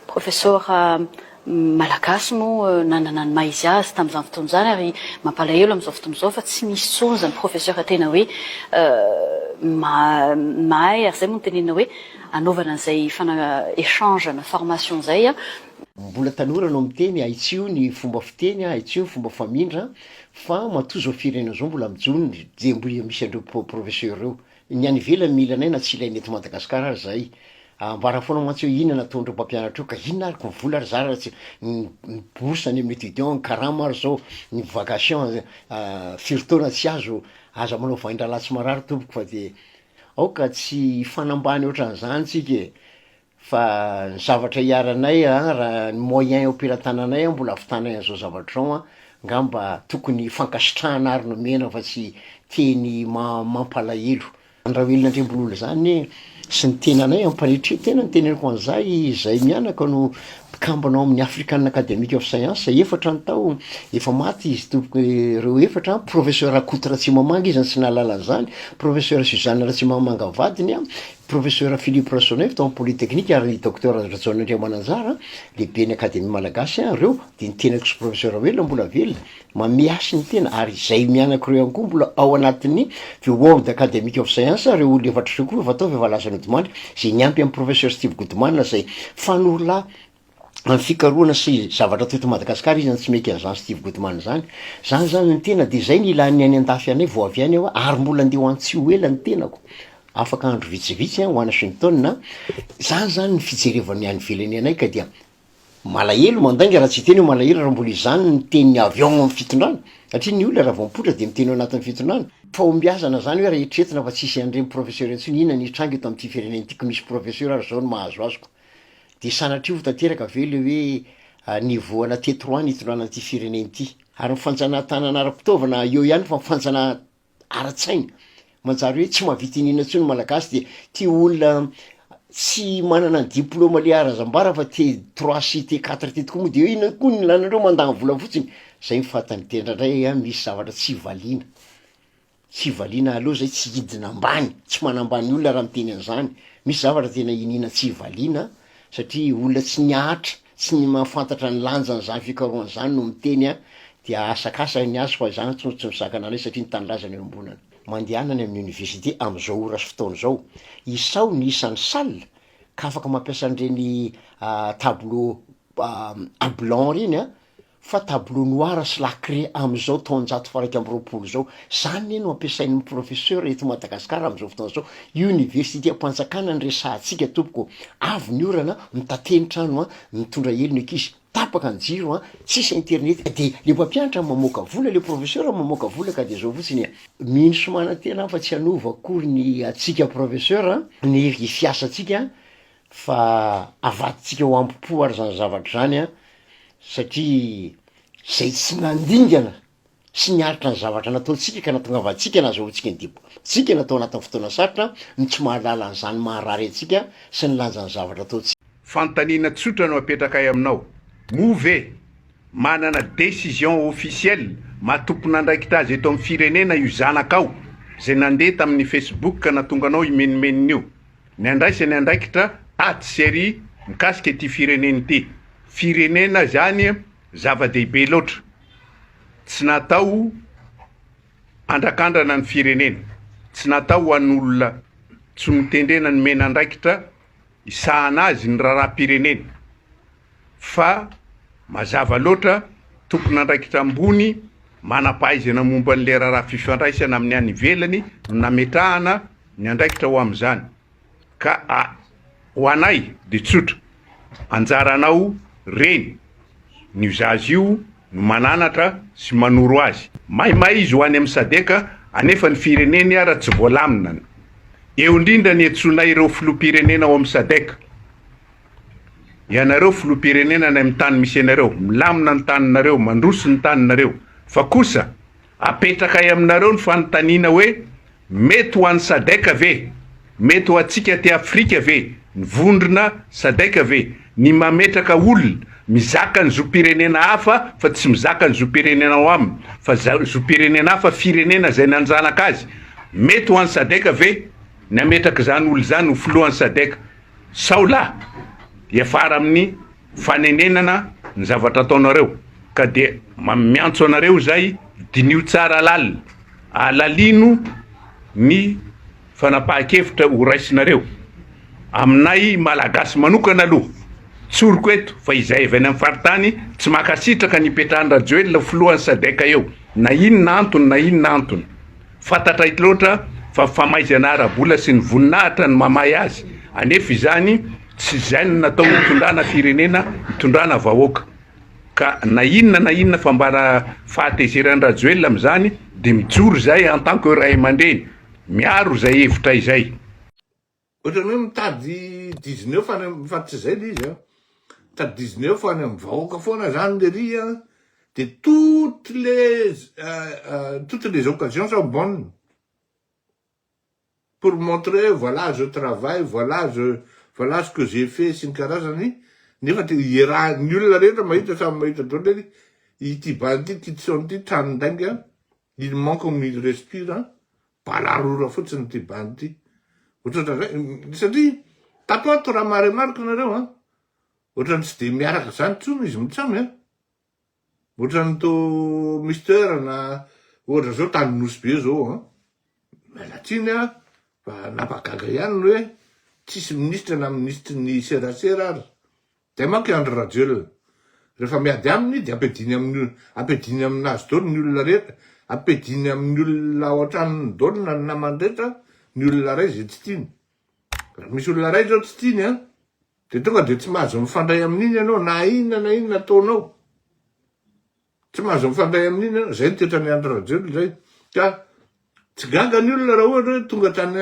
Profesora, Malagasy moa nanana ny maha izy azy tamin'izany fotoana izany ary mampalahelo amin'izao fotoana izao fa tsy misy intsony izany profesora tena hoe mahay ary izay moa no tenenina hoe anaovana an'izay échange na formation izay an. Mbola tanora no miteny, ahitsio ny fomba fiteny, ahitsio ny fomba famindra fa matoa izao firenena izao mbola mijono ny jemboia misy an'ireo profesora ireo. Ny any ivelany mila anay na tsy ilaina eto Madagascar ary zahay. Ambara foana mantsy hoe inona nataon'ireo mpampianatra eo ka inona ary ko vola ary zara tsy ny ny bourse any amin'ny étudiant ny karama ary zao ny vacation firy taona tsy azo aza manao vahindrahalahy tsy marary tompoko fa de aoka tsy hifanambany ohatran'izany tsika e! fa ny zavatra iharanay a raha ny moyen eo am-pelatananay a mbola avitanay an'zao zavatra zao a, ngamba tokony fankasitrahana ary nomena fa tsy teny ma- mampalahelo. Ny Raoelina Andriambolola zany e sy ny tenanay ampanetria tena ny teneniko an'zah izay mianaka no mpikambana ao amin'ny African Academic of Science efatra ny tao efa maty izy tompoko reo efatra a, Professeur Rakoto Ratsimamanga izy no tsy nahalala an'zany, Professeur Suzanne Ratsimamanga vadiny a, Profesora Philippe Rasoanaivo tao amin'ny Polytechnique ary ny Docteur Rajaonaindraivo Mananjara, Lehiben'ny Akademia Malagasy, ary ireo dia ny tenako sy Profesora Raoelina mbola velona, mameasy ny tena, ary izay mianaka ireo ihany koa mbola ao anatin'ny The World Academic of Science, ireo olona efatra ireo koa efa tao fa efa lasa nodimandry, izay niampy an'i Professor Steve Goodman izay fanorolahy amin'ny fikarohana sy zavatra teto Madagasikara izy, na tsy mety an'zany Steve Goodman zany, zany zany ny tena de zay ny ilan'ny any an-dafy anay vao avy any aho a, ary mbola ndeha ho any tsy ho ela ny tenako, afaka andro vitsivitsy any Wanashington a, zany zany ny fijerevan'ny any ivelany anay ka dia malahelo mandainga raha tsy hiteny hoe malahelo raha mbola izany no tenin'ny avy ao amin'ny fitondrana, satria ny olona raha vao mipoitra dia miteny ao anatin'ny fitondrana, fahombiazana zany hoe raha eritreretina fa tsisy an'ireny professeur intsony inona ny hitranga eto amin'ity firenena ity ko misy professeur ary zao no mahazo azy ko. Dia sanatria ho tanteraka ve le hoe nivohana teto roa ny hitondrana an'ity firenena ity? Ary ny fanjanahan-tanana ara-pitaovana eo ihany fa ny fanjanahan- ara-tsaina manjary hoe tsy mahavita iniana intsony ny Malagasy dia tia olona tsy manana ny diplaoma le harazambara fa T trois sy T quatre ty tokoa moa de hoe inona koa ny ilàna andreo mandany vola fotsiny? Zay ny fahatany tena ndray a, misy zavatra tsy valiana. Tsy valiana aleo zay tsy hidina ambany, tsy manambany olona raha miteny an'zany, misy zavatra tena iniana tsy valiana satria olona tsy nihatra, tsy ny mahafantatra ny lanjan'zany fikarohana zany no miteny an, de ahasakasany ny azy fa zany ntsony tsy misakana anay satria ny tanindrazana eo ambonana. Mandehana any amin'ny université amin'izao ora sy fotoana izao, isaho ny isan'ny salle ka afaka mampiasa an'ireny tableau blanc ireny an, fa tableau noir sy lacré amin'izao taonjato faha-iraika amby roapolo izao, izany anie no ampiasain'ny professeur eto Madagascar amin'izao fotoana izao, Universitem-panjakana no resahantsika tompoko, avy ny orana, mitateny trano an, mitondra helo ny ankizy, tapaka ny jiro an, tsisy internet ka dia le mpampianatra mamoaka vola, le professeur mamoaka vola ka dia izao fotsiny e. Mino sy manantena aho fa tsy hanova akory ny antsika professeur ny fiasantsika fa avadintsika ao am-po ary zany zavatra zany an, satria zay tsy nandingana sy niaritra ny zavatra nataontsika ka nahatonga antsika nazahoantsika ny diboantsika na tao anatin'ny fotoana sarotra no tsy mahalala an'izany maharary antsika sy ny lanjan'ny zavatra ataontsika. Fanontaniana tsotra no apetrakay aminao, moa ve manana décision officielle maha tompon'andraikitra azy eto amin'ny firenena io zanakao zay nandeha tamin'ny Facebook ka nahatonga anao himenomenona io? Ny handraisany andraikitra ady sy àry mikasika ity firenena ity. Firenena izany zava-dehibe loatra. Tsy natao handrakandrana ny firenena. Tsy natao ho an'olona tsy notendrena nomena andraikitra hisahana azy ny raharaham-pirenena. fa mazava loatra, tompon'andraikitra ambony manam-pahaizana momba ny lerarà fifandraisana amin'ny any ivelany no nametrahana ny andraikitra ho amin'izany. Ka a, ho anay dia tsotra, anjaranao reny ny mizaha azy io no mananatra sy manoro azy. Maimay izy ho any amin'ny sadc anefa ny fireneny ara tsy voalamina ny. Eo indrindra ny iantsoanay ireo filoham-pirenena ao amin'ny sadc. Ianareo filoham-pirenena any amin'ny tany misy anareo, milamina ny taninareo, mandroso ny taninareo, fa kosa apetrakay aminareo ny fanontaniana hoe, mety ho an'ny Sadec ve, mety ho antsika aty Afrika ve ny vondrona Sadec ve ny mametraka olona mizaka ny zom-pirenena hafa fa tsy mizaka ny zom-pirenena ao aminy fa zom-pirenena hafa firenena izay nanjanaka azy, mety ho an'ny Sadec ve ny hametraka izany olona izany ho filohan'ny Sadec. Sao la hiafara amin'ny fanenenana ny zavatra ataonareo ka dia miantso anareo izay diniho tsara lalina, alalino ny fanapahan-kevitra ho raisinareo. Aminay Malagasy manokana aloha, tsoriko eto fa izay avy any amin'ny faritany tsy mankasitraka ny hipetrahan-dRajoelina ho filohan'ny Sadec eo na inona antony na inona antony. Fantatra eto loatra fa famaizana ara-bola sy ny voninahitra no mamaha azy, anefa izany tsy izay no natao hitondrana firenena, hitondrana vahoaka. Ka na inona na inona fambara fahatezeran'i Rajoelina amin'izany dia mijoro izahay en tant que ray aman-dreny, miaro izay hevitra izay. Ohatrany hoe mitady dizineuf any am, fa tsy zay le izy an, mitady dizineuf any am vahoaka foana zany lery an, de toutes les toutes les occasions sont bonnes pour montrer hoe voilà je travaille, voilà je voilà ce que j'ai fait sy ny karazany, nefa de iaraha, ny olona rehetra mahita samy mahita daholo lery, ity bala ity, ity tsy saon'ity, tranon-dainga, il manque comme il respire an, Balarora fotsiny ity band ity. Ohatran'izay satria tato ato raha maharemarika nareo an, ohatran'ny tsy dia miaraka izany intsony izy mitsy an, ohatran'ny to Mister na ohatra zao tany Nosy be zao an, miala tsiny an, fa nampagaga ihany ny hoe tsisy minisitra na minisitry ny serasera ary Dia manko i Andry Rajoelina rehefa miady aminy dia ampidiny aminy ampidiny aminazy dolo ny olona rehetra ampidiny aminy olona ao an-tranony dolo na ny namany rehetra ny olona iray izay tsy tiany. Raha misy olona iray izao tsy tiany an dia tonga dia tsy mahazo mifandray amin'iny ianao na inona na inona ataonao. Tsy mahazo mifandray amin'iny ianao, izay ny toetran'i Andry Rajoelina izay, ka tsy gaga ny olona raha ohatra hoe tonga tany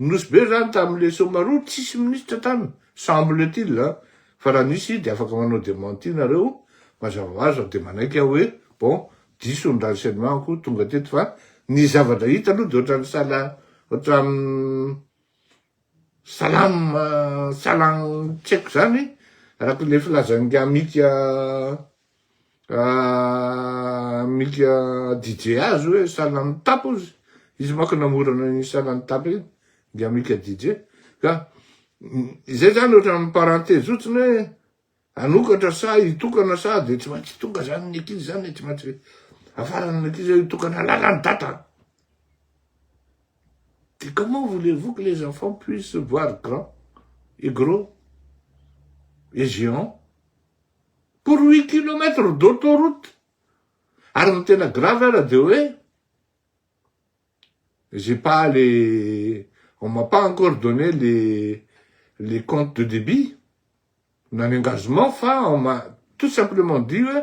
Nosy Be izany tamin'ilay Somaroa, tsisy minisitra tany, semble-t-il an, fa raha nisy dia afaka manao dementi nareo, mazava ho azy, dia manaiky aho hoe bon, diso ny renseignement-ko tonga teto fa ny zavatra hita aloha dia ohatran'ny sahala, ohatran'ny. Salam salam tsy haiko zany araka le filazan'ny Amika Amika DJ azy hoe salam tap ozy izy manko namorona an'iny salam tap iny dia Amika DJ ka izay zany ohatran'ny parenthese otriny hoe Hanokatra sa hitokana sa dia tsy maintsy hitokana zany ny ankizy zany e, tsy maintsy afarana ny ankizy hitokana lalan'i dada. Dia comment voulez-vous que les enfants puissent voir grand et gros et géant pour huit kilomètres d'autoroute? Ary ny tena grave ara dia hoe. J'ai pas les on m'a pas encore donné les les comptes de débit na ny engagement fa on m'a tout simplement dit hoe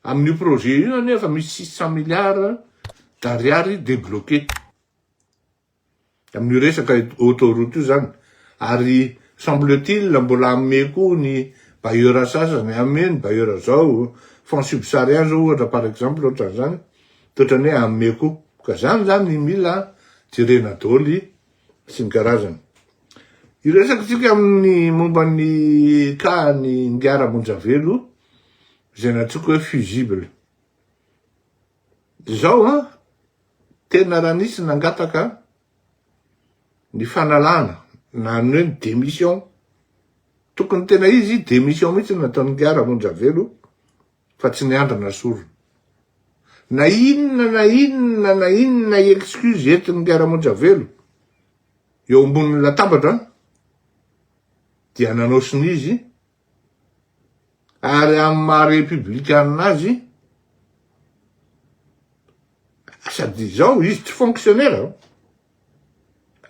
amin'io projet io anie efa misy six cent milliards d'ariary débloqué amin'io resaka autoroute io zany ary semble-t-il mbola hanome koa ny bailleur sasany, hanome ny bailleur zao fonds subsahariens zao ohatra par exemple ohatran'izany. Toetrany hoe amme ko. Ka zany zany ny mila jerena doly sy ny karazany. Hiresaka tsika amin'ny momba ny cas ny Ngara Monjavelo izay nantsoiko hoe fusible. Zao an, tena raha nisy nangataka ny fanalana na ny hoe ny demission, tokony tena izy demission mitsy nataony Ngara Monjavelo Fa tsy ny andrana sorona. Na inona na inona na inona excuse entin'ny mpiara-monitra velo eo ambonin'ny latabatra dia nanaosina izy ary amin'ny maha repiblikanina azy sady izao izy tsy fonctionnaire.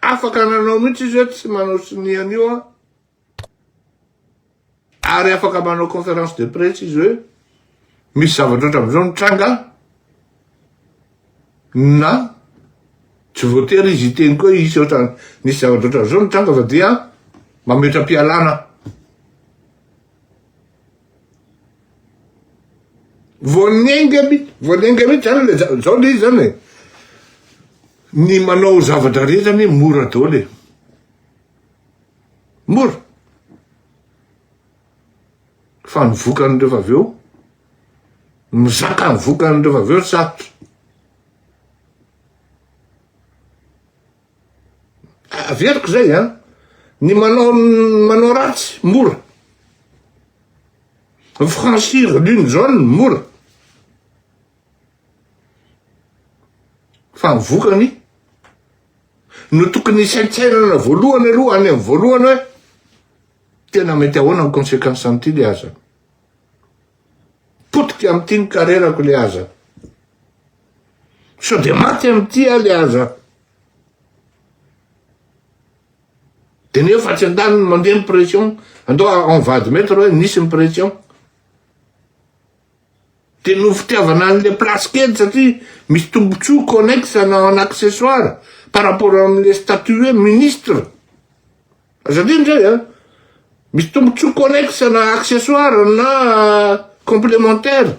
Afaka nanao mihitsy izy hoe tsy manao sonia an'io aho. Ary afaka manao conférence de presse izy hoe misy zavatra ohatran'izao nitranga na tsy voatery izy hiteny koa hisy ohatran nisy zavatra ohatran'izao nitranga fa dia mametra-pialana. vao nenga mi vao nenga mihitsy zany le zao le izy zany e ny manao zavatra rehetra anie mora daholo e mora fa ny vokany rehefa avy eo mizaka ny vokany rehefa avy eo sarotra Averiko zay an, ny manao manao ratsy mora. Ny franchir l'une zone mora. Fa ny vokany no tokony hisaintsainana voalohany aloha any amin'ny voalohany hoe tena mety ahoana ny conséquence an'ity le aza. Potika amin'ity ny karerako le aza. Sao dia maty amin'ity aho le aza. Dia ny efa tsy an-daniny mandeha ny pression, andao en vadimaitre hoe nisy ny pression. Dia no fitiavana an'ilay place kely satria misy tombontsoa connexe na en accessoire par rapport amin'ilay statut hoe ministre. Aza adino izay an! Misy tombotsoa connexe na accessoire na complementaire.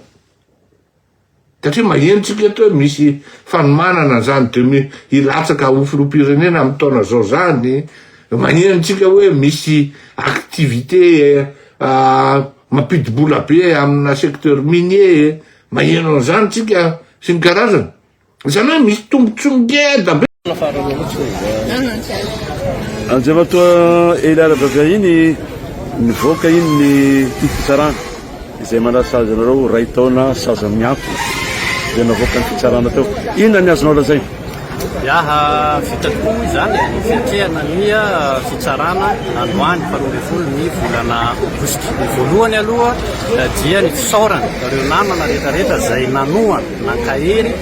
Satria maheno tsika eto hoe misy fanomanana an'izany demi hilatsaka ho filoham-pirenena amin'ny taona izao izany, maheno tsika hoe misy activité mampidi-bola be amina secteur minier, maheno an'izany tsika sy ny karazany. Izany hoe misy tombontsoa ngeda be. Andriamatoa Elia Rabavia iny nivoaka iny ny ity fitsarana izay manasazy anareo iray taona saza miampy dia navoaka ny fitsarana teo. Inona ny azonao lazaina? Iaha vita tokoa izany ny fiatrehana ny fitsarana androany faharoa ambin'ny folo ny volana aogositra. Ny voalohany aloha dia ny fisaorana ireo namana rehetrarehetra izay nanohana. Nankahery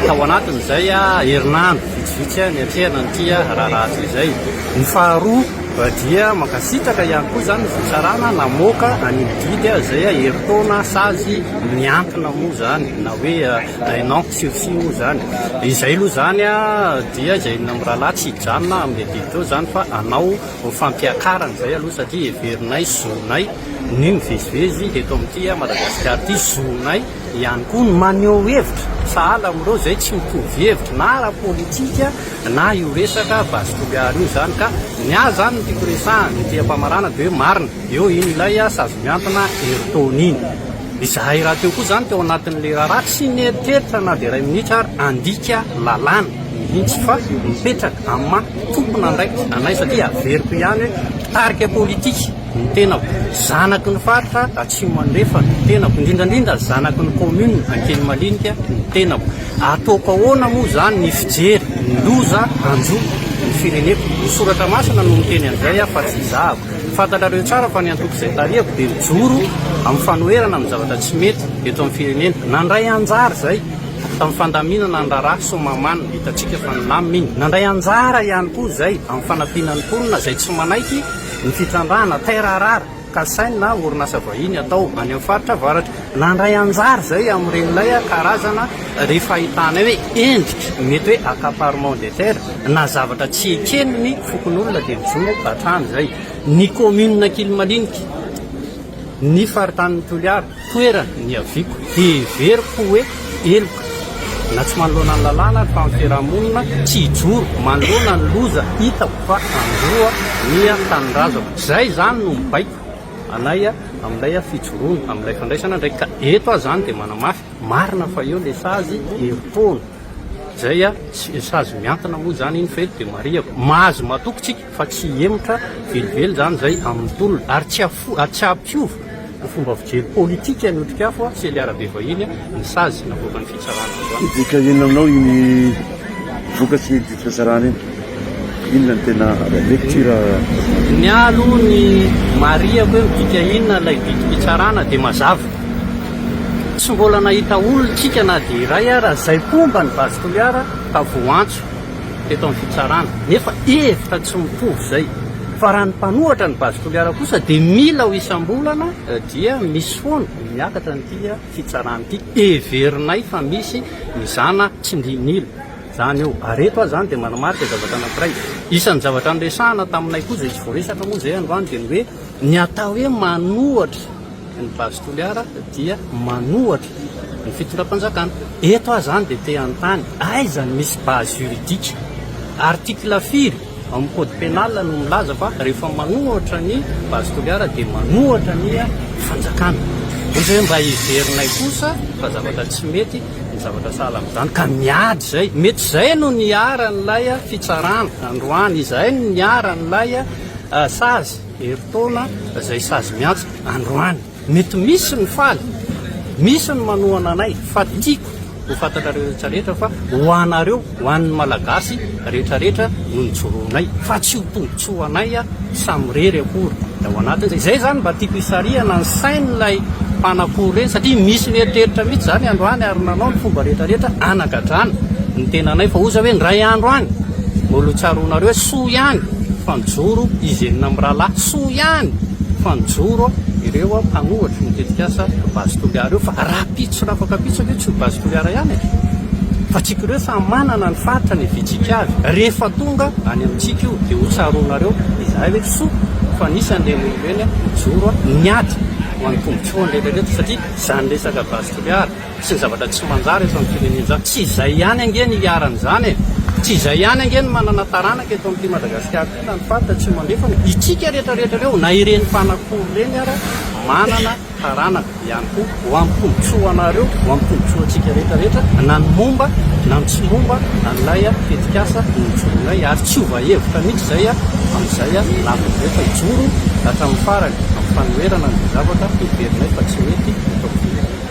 tao anatin'izay herinandro vitsivitsy niatrehana an'ity raharaha ity izay. Ny faharoa dia mankasitraka ihany koa izany ny fitsarana namoaka an'io didy izay herintaona sazy miankina moa izany na hoe un an sursis moa izany. Izay aloha izany dia izay inona mirahalahy tsy hijanona amin'ilay didy teo izany fa hanao fampiakarana izay aloha satria heverinay zonay ny mivezivezy eto amin'ity Madagasikara ity, zonay. ihany koa ny maneho hevitra sahala amin'ireo izay tsy mitovy hevitra na ara-politika na io resaka base Toliara io izany ka ny ahy izany no tiako resahana ity ampamaranana dia hoe marina eo iny ilay sazy miantona Ayrton iny izahay rahateo koa izany teo anatin'ny lera raha tsy nieritreritra na dia iray minitra ary handika lalàna mihitsy fa mipetraka amin'ny maha tompona andraikitra anay satria averiko ihany hoe mpitarika politika Ny tenako, zanaky ny faritra Atsimo Andrefana, ny tenako, indrindra indrindra zanaky ny commune Ankelimalinika, ny tenako. Ataoko ahoana moa izany ny fijery ny loza hanjo ny fireneko? Ny soratra masina no miteny an'izay aho fa tsy izahako. Fantatrareo tsara fa ny antoko izay tarihako dia mijoro amin'ny fanoherana amin'ny zavatra tsy mety eto amin'ny firenena. Nandray anjara izay tamin'ny fandaminana ny raharaha Somaman, hitantsika fa nilamina iny. Nandray anjara ihany koa izay amin'ny fanampiana ny mponina izay tsy manaiky, Ny fitrandrahana taire à rare kasainy na orinasa vahiny atao any amin'ny faritra avaratra. Nandray anjara izay amin'ireny ilay karazana ry fahitana hoe endrika mety hoe accaparement des terres na zavatra tsy eken'ny fokonolona dia mijoro hatrany izay ny kaominina Kilmalinika, ny faritanin'i Toliara. Toerana niaviako, heveriko hoe heloka. Na tsy manoloana ny lalàna ary fa ny fiarahamonina tsy hijoro manoloana ny loza hitako fa handroa ny tanindrazako. Izay izany no mibaiko anay amin'ilay fijoroana, amin'ilay fandraisana andraikitra. Ka eto aho izany dia manamafy, marina fa eo ilay sazy herim-poana, izay sazy mihantona moa izany iny fa eto dia marihako, mahazo matoky tsika. fa tsy hihemotra velively izany izay amin'ny tolona ary tsy hafo ary tsy hampiova ny fomba fijery politika ny Otrikafo a Sely Arabe vahiny ny sazy navoakan'ny fitsarana androany. Midika inona aminao iny vokatry ny didy fitsarana iny? Inona no tena lecture azonao? Ny ahy aloha ny marihako hoe midika inona ilay didy fitsarana dia mazava. Tsy mbola nahita olon-tsika na dia iray ara izay mpomba an'i Base Toliara ka voantso. teto amin'ny fitsarana nefa hevitra tsy mitovy izay fa raha ny mpanohatra ny Base Toliara kosa dia mila ho isam-bolana dia misy foana ny miakatra an'ity fitsarana ity heverinay fa misy ny zana tsindrin'ila izany eo ary eto aho izany dia manamarika zavatra anankiray isan'ny zavatra niresahana taminay koa izay tsy voaresaka moa izay androany dia ny hoe ny atao hoe manohatra Ny Base Toliara dia manohatra ny fitondram-panjakana. Eto aho izany dia te hanontany, aiza no misy base juridique? Article firy ao amin'ny code pénal no milaza fa rehefa manohatra ny Base Toliara dia manohatra ny fanjakana? Ohatra hoe mba heverinay kosa fa zavatra tsy mety ny zavatra sahala amin'izany ka miady izay. Mety izay no niharan'ilay fitsarana androany, izay no niharan'ilay sazy. Herintaona izay sazy miantso androany. Mety misy ny faly, misy ny manohana anay fa tiako ho fantatrareo rehetra rehetra fa ho anareo, ho an'ny Malagasy rehetra rehetra no nijoroanay fa tsy ho tombotsoa anay samirery akory ny ao anatin'izay. Izay izany mba tiako hisarihana ny sain'ilay mpanakory ireny satria misy mieritreritra mihitsy izany androany ary nanao ny fomba rehetra rehetra hanagadrana ny tenanay fa hoza hoe indray andro any mbola ho tsaroanareo hoe soa ihany. fa mijoro izy enina mirahalahy soa ihany fa nijoro ireo mpanohatry ny tetikasa Base Toliara ireo fa rahampitso sy rafampitso ve tsy ho Base Toliara ihany e? fa tsika ireo samy manana ny faritra ny vitsika avy rehefa tonga any amintsika io dia hotsaroanareo izahay ve tsy soa fa nisy an'ireny olona ireny nijoro niady ho an'ny tombontsoan'ireny rehetra satria izany resaka Base Toliara sy ny zavatra tsy manjary eto amin'ny firenena izany. Tsy izay ihany ange ny iharan'izany e! Tsy izay ihany ange ny manana taranaka eto amin'ity Madagasikara ity na ny faritra Atsimo Andrefa fa itsika rehetra rehetra ireo na ireny mpanakory ireny ara manana taranaka ihany koa ho amin'ny tombontsoanareo, ho amin'ny tombontsoantsika rehetra rehetra na ny momba na ny tsy momba an'ilay tetikasa nijoroanay ary tsy hova hevitra mihitsy izay amin'izay lavitra izay fa hijoro hatramin'ny farany amin'ny fanoherana an'izay zavatra heverinay fa tsy mety eto amin'ny firenena.